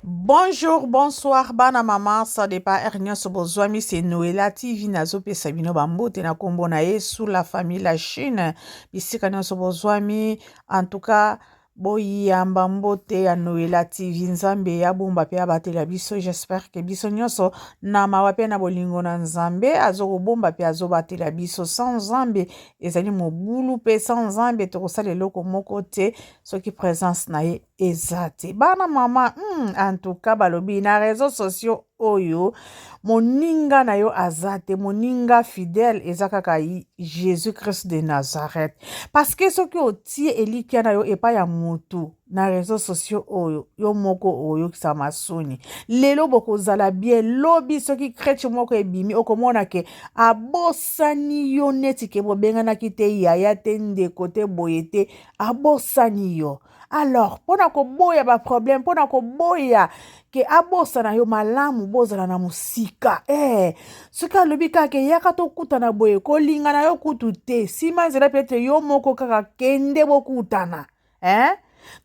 Bonjour, bonsoir, bana maman, ça dépend er nyonso bozwami c'est Noëlla TV nazopesa bino bambote na kombo na Yesu la famille la Chine bisika nyonso bozwami en tout cas boyamba mbote ya Noëlla TV Nzambe ya bomba pe abatela biso j'espère que biso nyonso na mawa pe na bolingo na Nzambe azokobomba pe azobatela biso sans Nzambe ezali mobulu pe sans Nzambe tokosala eloko moko te soki presence na ye eza te bana mama mm, antuka balobi na réseau sociaux oyo moninga na yo aza te moninga fidèle eza kaka jésus christ de nazareth parce que soki otie elikya na yo epai ya motu na réseau sociaux oyo yo moko oyokisa masoni lelo bokozala bien lobi soki creche moko ebimi okomona ke abosani yo neti ke bobenganaki te yaya te ndeko te boye te abosani yo alors mpo na koboya baproblème mpo na koboya ke abosana yo malamu bozala na mosika eh, soki alobi kaka eyaka tokutana boye kolinga na yo kutu te nsima nzela petre yo moko kaka kende bokutana eh?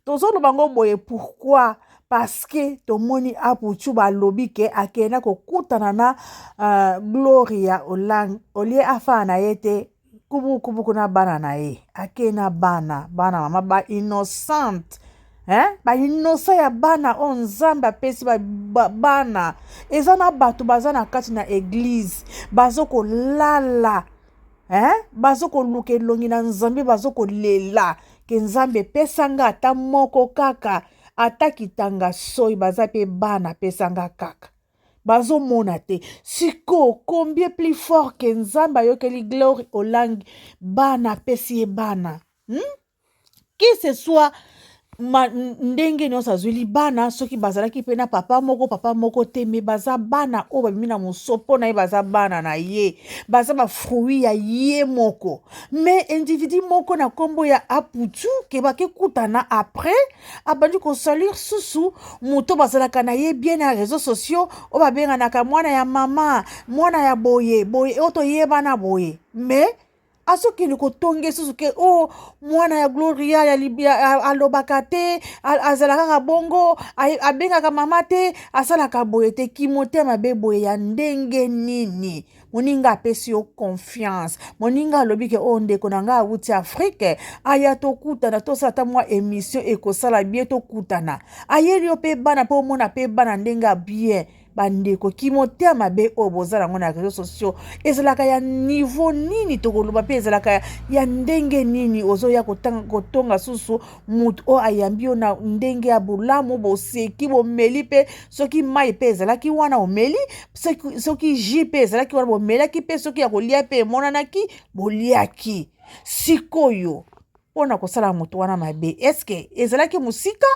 tozoloba ngo boye pourkui paske tomoni apuchu balobi ke akenda kokutana na uh, gloria olang olie afaa na ye te kubu kubu kuna bana na ye ake na bana bana mama ba innocente eh ba innocent ya bana oyo nzambe apesi ba, ba, bana eza na bato baza na kati na eglize bazokolala eh bazokoluka elongi na nzambe bazokolela ke nzambe epesa nga ata moko kaka ata kitanga soyi baza mpe bana apesa nga kaka bazomona te sikoyo combien plus fort ke nzambe ayokeli glory olangi bana apesi ye bana hmm? que ce soit ma, ndenge nyonso azweli bana soki bazalaki mpe na papa moko papa moko te me baza bana oyo babimi na mosopo na ye baza bana na ye baza bafruit ya ye moko me individu moko na nkombo ya aputu ke bakekutana après abandi kosalir susu moto bazalaka na ye bien na réseau sociaux oyo babenganaka mwana ya mama mwana ya boye boye oyo toyebana boye mais azokende kotonge susu ke o oh, mwana ya gloria ya libia alobaka te azalaka kaka bongo abengaka mama te asalaka boye te kimotema be boye ya ndenge nini moninga apesi yo confiance moninga alobi ke oyo oh, ndeko na ngai awuti afrike aya tokutana tosala ata mwa emission ekosala bie tokutana ayeli yo mpe bana mpe omona mpe bana ndenge ya bie bandeko kimotema mabe oyo boza yango na réseau sociaux ezalaka ya niveau nini tokoloba mpe ezalaka ya ndenge nini ozoya kotonga susu moto oyo ayambi yo na ndenge ya bolamu boseki bomeli mpe soki mai mpe ezalaki wana omeli soki, soki ji mpe ezalaki wana bomelaki mpe soki ya kolia mpe emonanaki boliaki sikoyo mpo na kosala moto wana mabe eske ezalaki mosika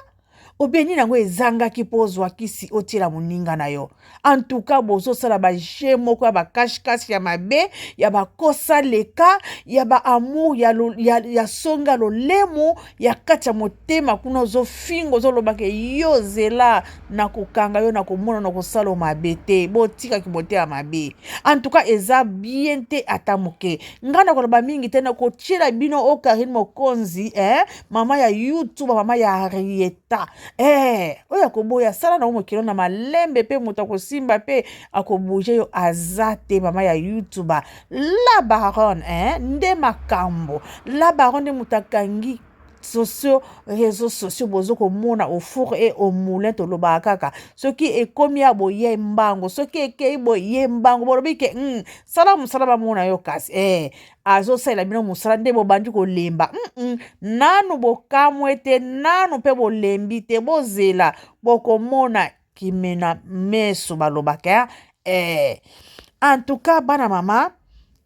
obeni yango ezangaki mpo ozwa kisi otiela moninga na yo antuka bozosala baje moko ya bakashikashi ya mabe ya bakosa leka ya baamour ya, ya, ya songa lolemo ya kati ya motema kuna ozofinga ozolobaka yo zela na kokanga yo na komona na kosala mabe te botikaki motema mabe antuka eza bien te ata moke ngai nakoloba mingi te nakotyela bino o karine mokonzi eh, mama ya youtube mama ya arieta eh, oyo akoboya sala na yo mokilo na malembe mpe moto akosimba mpe akobouge yo aza te mama ya youtube La baronne eh, nde makambo. La baronne nde moto akangi sociaux réseaux sociaux bozo komona au four et au moulin tolobaka kaka soki ekomi ya boye mbango soki ekei boye mbango bolobi ke mm, sala mosala bamona yo kasi eh, azosalela bino mosala nde bobandi kolemba mm -mm. nanu bokamwe te nanu mpe bolembi te bozela bokomona kimina meso balobaka eh. en tout cas bana mama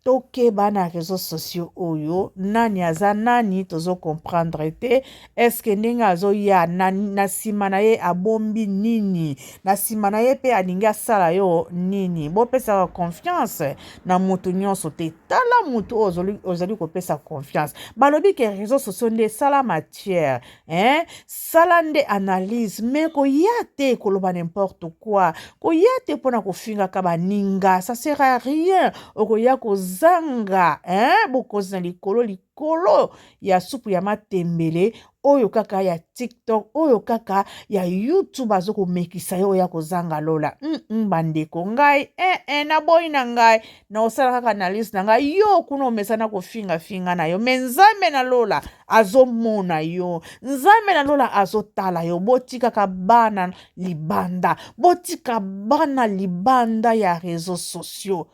tokeba na réseaux sociaux oyo nani aza nani tozo comprendre te eske ndenge azoya na, na nsima na ye abombi nini na nsima na ye mpe alingi asala yo nini bopesaka confiance na moto nyonso te tala moto oyo ozali kopesa confiance balobi ke réseaux sociaux nde esala matière eh, sala nde analyse me koya te koloba n'importe quoi koya te mpo na kofingaka baninga ça sert à rien okoya kozanga eh, bokonzi na likolo likolo ya supu ya matembele oyo kaka ya tiktok oyo kaka ya youtube azo komekisa yo oya kozanga lola mm -mm, bandeko ngai eh, eh, naboyi na ngai na osala kaka analyse na ngai yo kuna omesana kofingafinga na yo me nzambe na lola azomona yo nzambe na lola azotala yo botikaka bana libanda botika bana libanda ya réseau sociaux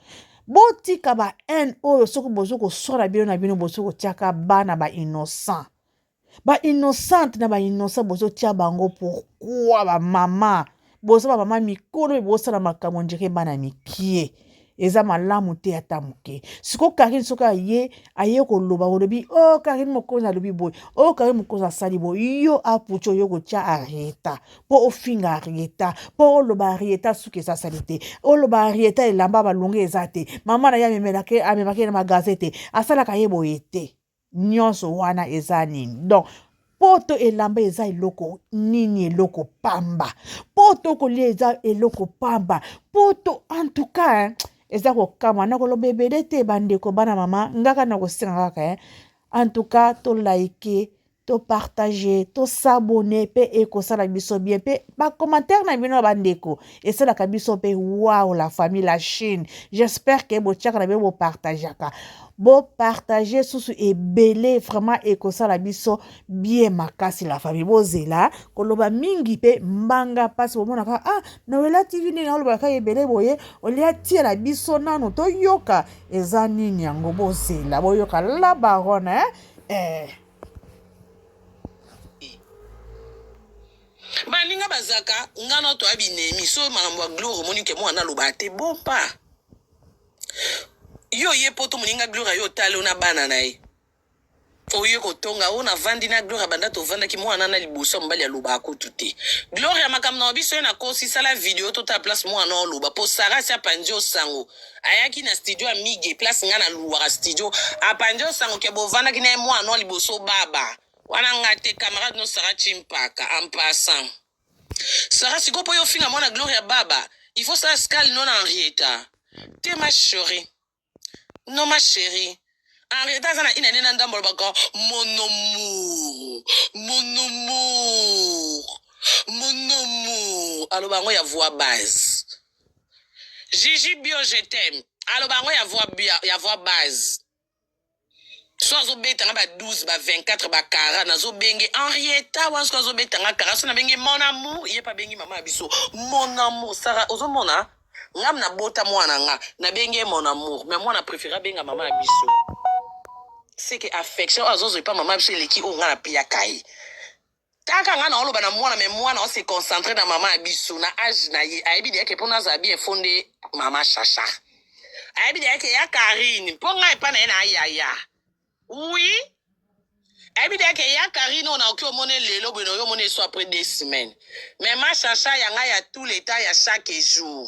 botika ba haine oyo soki bozo koswala bino na bino bozo kotiaka bana ba innocent ba innocente na ba innocent bozotia bango pourkua bamama boza bamama mikolo me bosala makambo ndire bana mikie eza malamu te ata moke siko karine soki aye aye koloba olobi o oh, karine mokonzi alobi boye o oh, karine mokonzi asali boye yo aputi oyo kotya arieta mpo ofinga arieta mpo oloba arieta suki eza sali te oloba arieta elamba balonge eza te mama na ye amemaki ye na magaze te asalaka ye boye te Nionso wana eza nini donc. Poto elamba eza eloko nini eloko pamba poto kolia eza eloko pamba poto en tout cas hein, eza kokamwa nakoloba ebele te bandeko bana mama ngaka nakosenga kaka hein. en tout cas to like to partage to s'abonner pe ekosala biso bien pe ba commentaire na bino bandeko esalaka biso mpe wow la famille la chine j'espère ke botiaka na bino bopartageaka bopartage susu ebele vraiment ekosala biso bie makasi la famille bozela koloba mingi mpe mbanga mpasi bomonaka ah noela tv ndenge alobaka ebele boye olia tiela biso nano toyoka eza nini yango bozela boyoka la barone eh. Baninga bazaka nga na to abinemi so makambo ya gloire omoni ke mwana aloba te bon pa yo ye poto moninga gloria yo otali yo na bana na ye oye kotonga oyo navandi na gloria banda tovandaki mwana na liboso ya mobali alobaka kutu te gloria makambo na biso ye nakosi sala video totala place mwana oloba mpo sara si apanzi osango ayaki na studio ya mige place ngai naluwaka studio apanzi osango ke bovandaki na ye mwana liboso baba Wana nga te camarade no Sarah Chimpaka en passant. Sarah sikoyo po yo finga mwana Gloria Baba, il faut sala scale non Henrietta. Te ma cherie. Non ma cherie. Henrietta aza na une année na ndambo alobaka mon amour. Mon amour. Mon amour. Aloba yango ya voix base. Gigi Bio je t'aime. Aloba yango ya voix ya voix base. so azobeta nga ba 12 ba 24 ba kara nazobenge henrieta wana soki azobeta nga kara so nabenge mon amour ye mpe abengi mama ya biso mon amour sara ozomona ngam nabota mwana nga nabenge ye mon amour me mwana préféré abenga mama ya biso seke affection oyo azozwa epa mama ya biso eleki oyo nga napiyaka ye Kaka nga naoloba na mwana mais mwana o se concentrer na maman ya biso na age na ye ayebi deja ke pona azala bien faut nde maman chacha ayebi deja ke ya Carine po nga epa na ye na yaya oui ayebi deja ke ya Carine oyo naoki omone lelo boye naoki omone esu après deux semaines mais ma chacha ya nga ya tout le temps ya chaque jour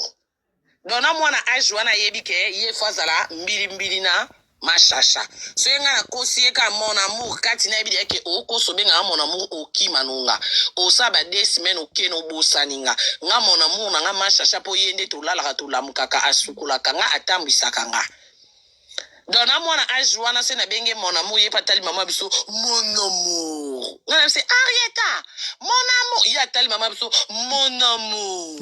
donc na mwana age wana ayebi ke ye fo azala mbilimbili na mashasha so ye ngai nakosi ye kaka mon amour kati nayebi deya ke okosi obengaka mon amour okima nonga osala ba deux semaine okeni obosani nga nga mon amour na nga mashasha mpo ye nde tolalaka tolamukaka asukolaka nga atambwisaka nga donc na mwana age wana se nabenge mon amour ye mpe atali mama biso mon amour nga na bise arieta mon amour ye atali mama biso mon amour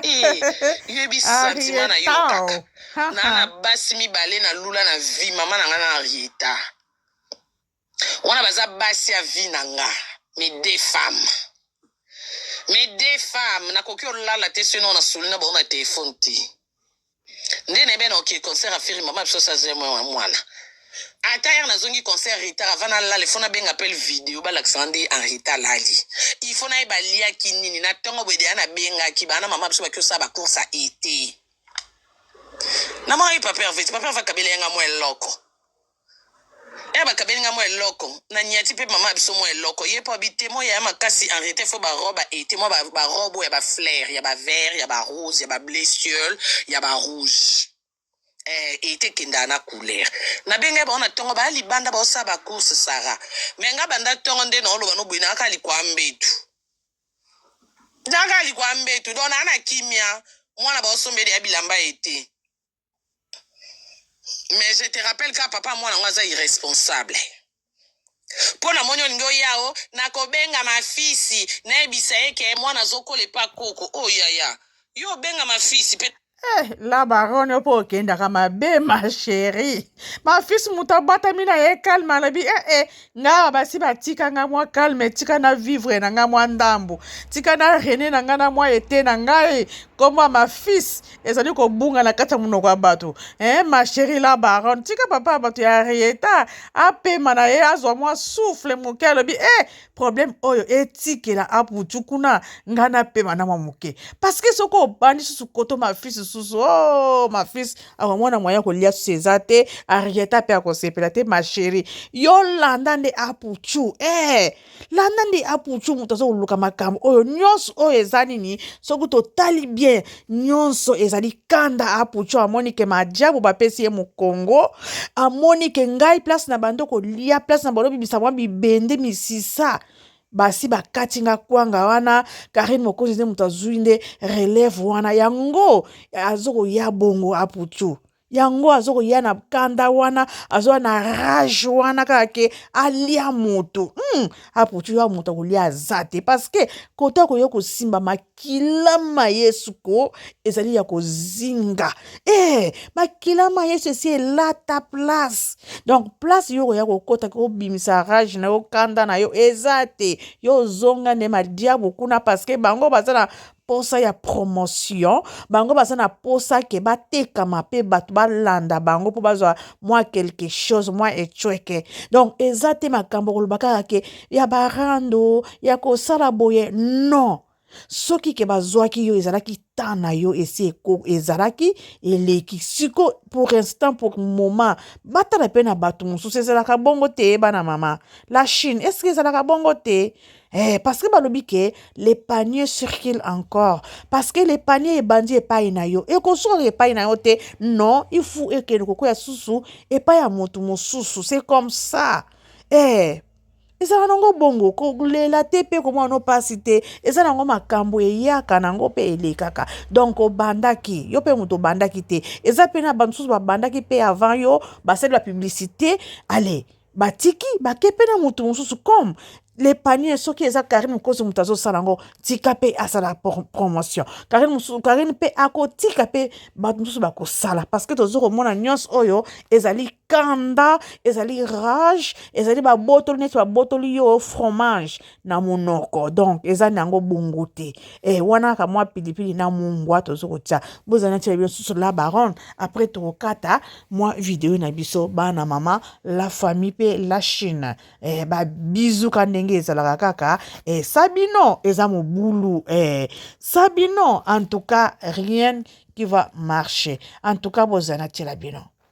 eh, yebi sentiment na yo kaka naa na basi mibale na lula na vie mama na nga na arieta wana baza basi ya vie na nga mes deux femmes mes deux femmes nakoki olala te soki nao na soli na bango na telefone te nde na yebena oke concert afiri mama biso saze mwana ata yere nazongi concert retard ava nalala ifo nabenga pele video balakisanga nde en retard lali ifo naye baliaki nini na ntongo boye deya nabengaki bana mama biso baki osala bacourse ya ete namonaki paper veti paper va kabela yanga mwa eloko Yaya bakabeli nga mwa eloko na niati pe maman na biso mwa eloko ye po abi temo yaya makasi en rete fo ba robe a ete mwa ba ba robe ya ba flair ya ba vert ya ba rose ya ba ble ciel ya ba rouge eh ete kenda na couleur na bengai bao na tongo ba libanda bao sa ba course sara me nga banda tongo nde na oloba no buina aka likwa mbetu naka likwa mbetu dona na kimia mwana bao sombeli ya bilamba ete mais je te rappelle ka papa mwana ngo aza irresponsable mpo namoni olingi oya o nakobenga mafisi nayebisa ye ke mwana azokola epa koko o oh, yaya yo obenga mafisi mpe Eh, la baronne mpo okendaka mabe ma chérie mafisi moto abatami na ye calme alobi ee eh, eh, ngaa basi batika ngai mwa calme tika na vivre na ngai mwa ndambo tika na rene na ngai na mwa ete na ngai nkombo ya mafisi ezali kobunga na kati ya monoko ya bato eh, ma cherie la baronne tika papa ya bato ya rieta apema na ye azwa mwa souffle moke alobi e eh, problème oyo etikela aputu kuna ngai napema na mwa moke parceke soki obandi susu koto mafisi susu o oh, mafisi akomona mwaya kolia susu eza te arieta mpe akosepela te ma cherie yolanda nde aputu e eh, landa nde apucu moto aza koluka makambo oyo nyonso oyo eza nini soki totali bien nyonso ezali kanda apucu amoni ke majabu bapesi ye mokongo amoni ke ngai place na bando kolia place na bando bibisa mwa bibende misisa basi bakati nga kwanga wana karine mokonzi nde moto azwi nde relève wana yango azokoya bongo apucu yango azokoya na kanda wana azoya na rage wana kaka ke alia moto hmm. aputu ya moto akolia aza te parceke kota koya kosimba makila ma yesu ko ezali ya kozinga e eh, makila ma yesu esi elata place donc place yo koya kokota kobimisa rage na yo kanda na yo eza te yo ozonga nde madiabu kuna parceke bango baza na posa ya promotion bango baza na posa ke batekama mpe bato balanda bango mpo bazwa mwa quelque chose mwa ecweke donc eza te makambo koloba kaka ke ya barando ya kosala boye non soki ke bazwaki yo ezalaki temps na yo esi eko ezalaki eleki siko pour instant pour moment batala mpe na bato mosusu ezalaka bongo te bana mama la chine eske ezalaka bongo te Eh, parce que balobi ke le panier circule encore parce que le panier ebandi epai na yo ekosuka epai na yo te non il faut ekende kokwea susu epai ya moto mosusu c'est comme ça eh ezala nango bongo kolela te mpe komona no mpasi te eza nango makambo eyaka nango mpe elekaka donk obandaki yo mpe moto obandaki te eza mpe na bamosusu babandaki mpe avant yo basali bapublicité ale batiki bake pe na mutu mosusu comme le panier soki eza Carine Mokosi moto azosala yango tika mpe asala promotion Carine mosusu Carine mpe akotika mpe bato mosusu bakosala parce que tozo komona nyonso oyo ezali kanda ezali rage ezali babotoli neti babotoli yo fromage na munoko donc eza na yango bongo te eh, wana kaka mwa pilipili na mungwa tozo kotya bozala na tyela biso la baronne après tokokata mwa video na biso bana mama la famille mpe la chine eh, babizuka ndenge ezalaka kaka eh, sabino eza mobulu eh, sabino en tout cas rien qui va marcher en tout cas bozala na tyela bino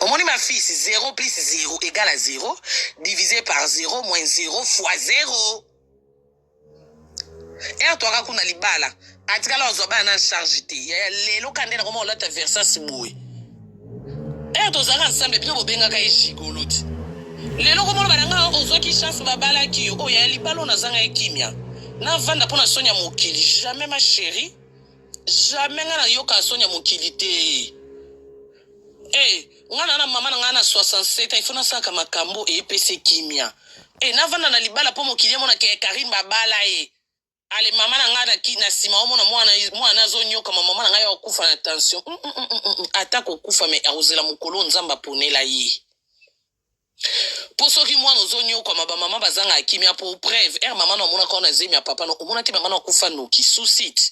omoni ma fils 0 plus 0 egal à 0 divisé par 0 moins 0 fois 0 ere toaka kuna libala atikala wazwa bana na charge te yaya lelo ka nde nakoma olata versas boye ere tozalaka nsambe bino bobengaka ye jigolo te lelo komona bananga ozwaki chance babalaki yo oyo yaya libala oyo nazanga ye kimia navanda mpo na soni ya mokili jamais ma chérie jamais nga na yoka soni ya mokili te eh nga na na mama na nga na 67 ans il faut nasalaka makambo epese kimia eh navanda na libala mpo mokili emona ke Karine babala ye ale mama na nga na ki na sima omona mwana mwana azonyoka ma mama na nga ya okufa na tension mm, mm, mm, mm, mm. ata kokufa me akozela mokolo oyo nzambe aponela ye Po soki mwana ozo niokwama ba maman bazangaka kimia po preuve heure maman no amonaka yo na zemi ya papa no omonaki maman no akufa noki suicide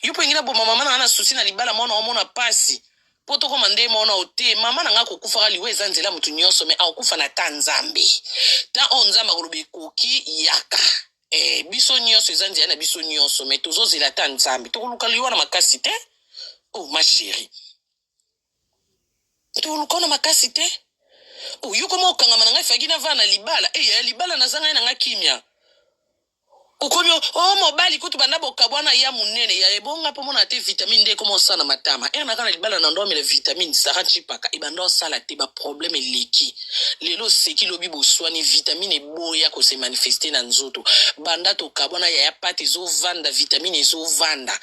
yo po olingi na boma maman na nga na souci na libala mwana omona pasi po tokoma nde moko na ote maman na nga akokufaka liwa eza nzela mutu nionso me akokufa na ta nzambe ta oyo nzambe akoloba ekoki yaka eh, biso nionso eza nzela na biso nionso me tozozela ta nzambe tokoluka liwa na makasi te oh ma chérie toluka na makasi te oyoko mwa okangama na ngai faki na vana libala eya eh, ya libala naza ngai na ngai kimia okomi o oh, mobali kutu banda bokabwana ya monene ya ebonga mpo mona te vitamine nde ekoma osala na matama ere eh, naka na libala na ndomela vitamine sara ncipaka ebanda eh, osala te baproblème eleki lelo oseki lobi boswani vitamine eboya kose manifeste na nzoto banda tokabwana yaya pate ezovanda vitamine ezovanda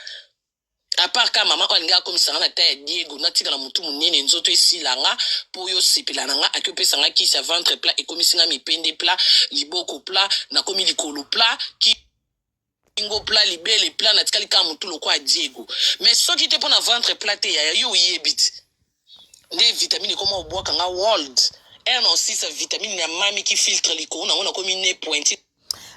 apart ka mama oyo alingi akomisa nga na ta ya diego natikala motu monene nzoto esila nga mpo yo osepela na nga ake opesa nga kisi ya ventre plat ekomisi nga mipende plat liboko plat nakomi likolo plat ki kingo plat libele plat natikali kaka motu lokola diego mais soki te mpo na ventre plat te yaya yo oyebi ti nde vitamine ekoma obwaka nga world r na osisa vitamine na mami ki filtre likolo nango nakomi ne pointi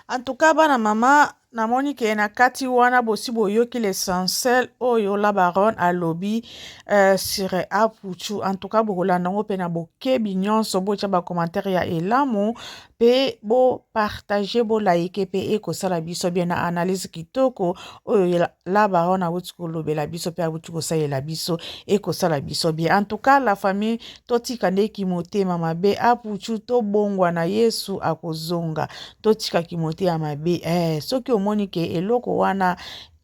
en tout cas bana mama namoni ke na kati wana bosi boyoki l'essentiel oyo la baronne alobi euh, sur apuchu en tout cas bokolanda yango mpe na bokebi nyonso botya bacommentaire ya elamu pe bo partage bo like pe ekosala biso bien na analyse kitoko oyo la baronne awuti kolobela biso pe awuti kosalela biso ekosala biso bien en tout cas la famille totika nde kimotema mabe apuchu tobongwa na yesu akozonga totika kimotema mabe eh, soki omoni ke eloko wana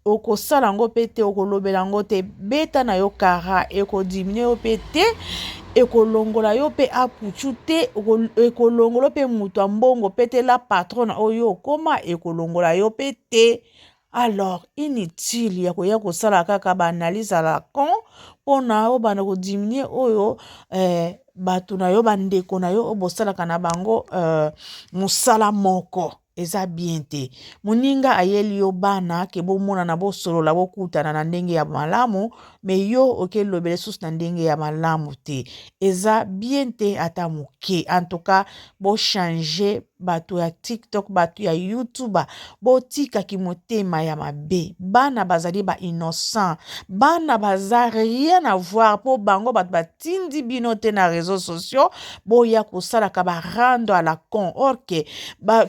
Okosala yango pe te, okolobela yango te. Beta na yo kara, eko diminuer yo pe te, ekolongola yo pe apuchu te, ekolongolo pe mutu ya mbongo pe te, la patrona oyo okoma ekolongola yo pe te. Alors inutile ya koya kosala kaka ba analyse à la con pona obanda ko diminuer oyo eh, bato na yo bandeko na yo oyo bosalaka na bango uh, mosala moko Eza bien te muninga ayeli yo bana ke bomonana bosolola bokutana na ndenge ya malamu me yo oke lobela lisusu na ndenge ya malamu te eza bien te ata moke en tout cas bo change bato ya tiktok bato ya youtube botika kimotema ya mabe bana bazali ba innocent bana baza rien avoir mpo bango bato tindi bino te na réseaux sociaux boya kosalaka ba rando à la con or que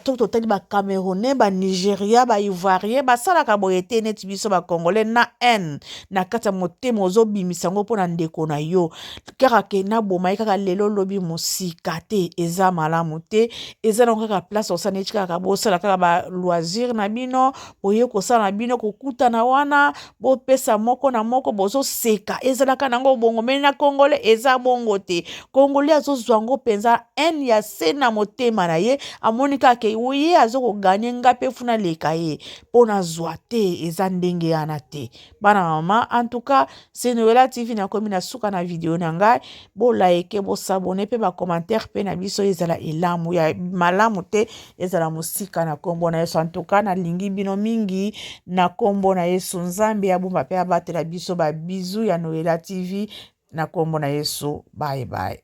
soki totali ba camerounais ba nigeria ba ivoirien basalaka boye te neti biso ba congolais na haine na kati ya motema ozobimisa yango mpo na ndeko na yo kaka ke naboma ye kaka lelo lobi mosika te eza malamu te eza nango kaka place osala neti kaka bosala kaka ba loisir na bino boye kosala na bino kokutana wana bopesa moko na moko bozoseka ezalaka nango bongo me na congolais eza bongo te congolais azozwa yango mpenza haine ya se na motema na ye amoni kaka ke ye azo koganye nga mpe funa leka ye mpo nazwa te eza ndenge yana te bana mama antuka senoela tv nakomi na suka na video na ngai bolaike bosabone mpe bacommentaire mpe na biso ezala elamu ya malamu te ezala mosika na nkombo na yesu antuka nalingi bino mingi na nkombo na yesu nzambe abomba mpe abatela biso babizu ya noela tv na nkombo na yesu bye bye